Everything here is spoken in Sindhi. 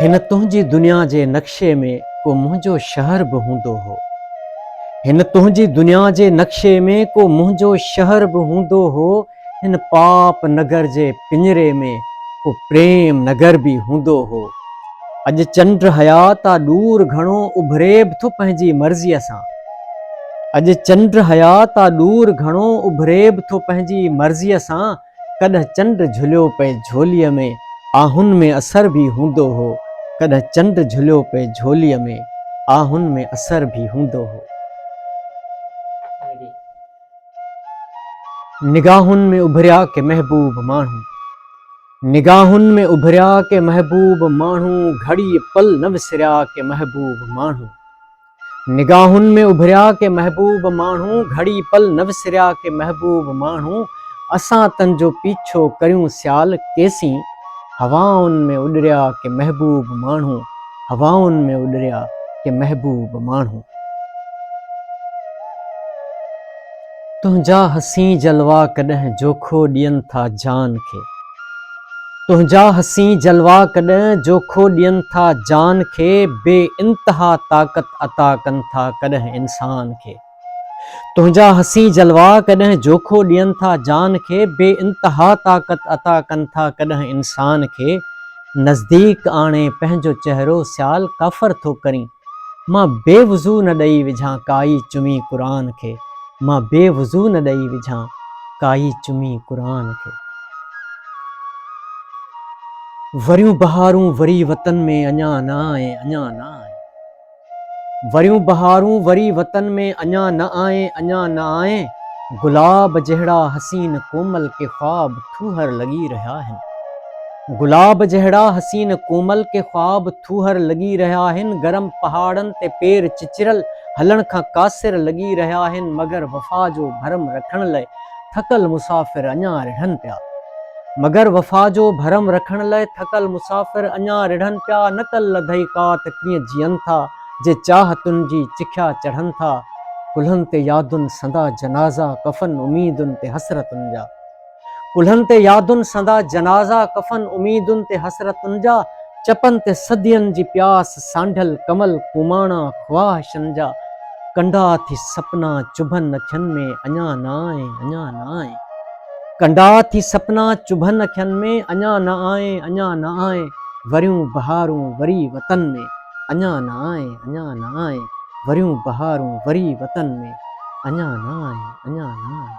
هن تنهنجي دنيا جي نقشي ۾ ڪو منهنجو شهر به هوندو هو هن تنهنجي دنيا جي نقشي ۾ ڪو منهنجو شهر به هوندو هو هن پاپ نگر جي پڃري ۾ ڪو پريم نگر به هوندو هو اڄ چنڊ حيات آ ڏور گهڻو اڀري به ٿو پنهنجي مرضيء سان اڄ چنڊ حيات آ ڏور گهڻو اڀري به ٿو پنهنجي مرضيء سان ڪڏهن چنڊ جهليو پئي جهوليء ۾، آهن ۾ اثر به هوندو هو، ڪڏهن چنڊ جهليو پئي جهوليء ۾، آهن ۾ اثر به هوندو هو. نگاهن ۾ اڀريا ڪي محبوب ماڻهو، نگاهن ۾ اڀريا ڪي محبوب ماڻهو، گهڙيء پل نه وسريا ڪي محبوب ماڻهو. نگاهن ۾ اڀريا ڪي محبوب ماڻهو گهڙي پل نه وسريا ڪي محبوب ماڻهو اسان تن جو پيڇو ڪريون سيال ڪيسين هوائن ۾ اڏريا ڪي محبوب ماڻهو هوائن ۾ اڏريا ڪي محبوب ماڻهو. تنهنجا حسين جلوا ڪڏهن جوکو ڏين ٿا جان کي تنهنجا حسين جلوا ڪڏهن جوکو ڏين ٿا جان کي بي انتها طاقت عطا ڪن ٿا ڪڏهن انسان کي تنهنجا حسين جلوا ڪڏهن جوکو ڏين ٿا جان کي بي انتها طاقت عطا ڪن ٿا ڪڏهن انسان کي نزديڪ آڻي پنهنجو چهرو سيال ڪافر ٿو ڪرين مان بي وضو نه ڏئي وجهان ڪائي چمي قرآن کي مان بي وضو نه ڏئي وجهان ڪائي چمي قرآن کي. وريون بهارون وري وطن ۾ اڃا نه آئين اڃا نه آئين وريون بهارون وري وطن ۾ اڃا نه آئين اڃا نه آئين گلاب جهڙا حسين ڪومل ڪي خواب ٿوهر لڳي رهيا هن. گلاب جهڙا حسين ڪومل ڪي خواب ٿوهر لڳي رهيا هن گرم پهاڙن تي پير چچرل هلڻ کان قاصر لڳي رهيا هن مگر وفا جو ڀرم رکڻ لئه ٿڪل مسافر اڃا رڙهن پيا مگر وفا جو ڀرم رکڻ لئه ٿڪل مسافر اڃا رڙهن پيا نڪل لڌئي ڪا ته ڪيئن جيئن ٿا جي چاهتن جي چکيا چڙهن ٿا ڪلهن تي يادن سندا جنازا ڪفن اميدن تي حسرتن جا. ڪلهن تي يادن سندا جنازا ڪفن اميدن تي حسرتن جا چپن تي صدين جي پياس سانڍل ڪمل ڪوماڻا خواهشن جا ڪنڊا ٿي سپنا چڀن اکين ۾ اڃا نه آئين اڃا نه آئين ڪنڊا ٿي سپنا چڀن اکين ۾ اڃا نه آئين اڃا نه آئين وريون بهارون وري وطن ۾ اڃا نه آئين اڃا نه آئين وريون بهارون وري وطن ۾ اڃا نه آئين اڃا نه آئين.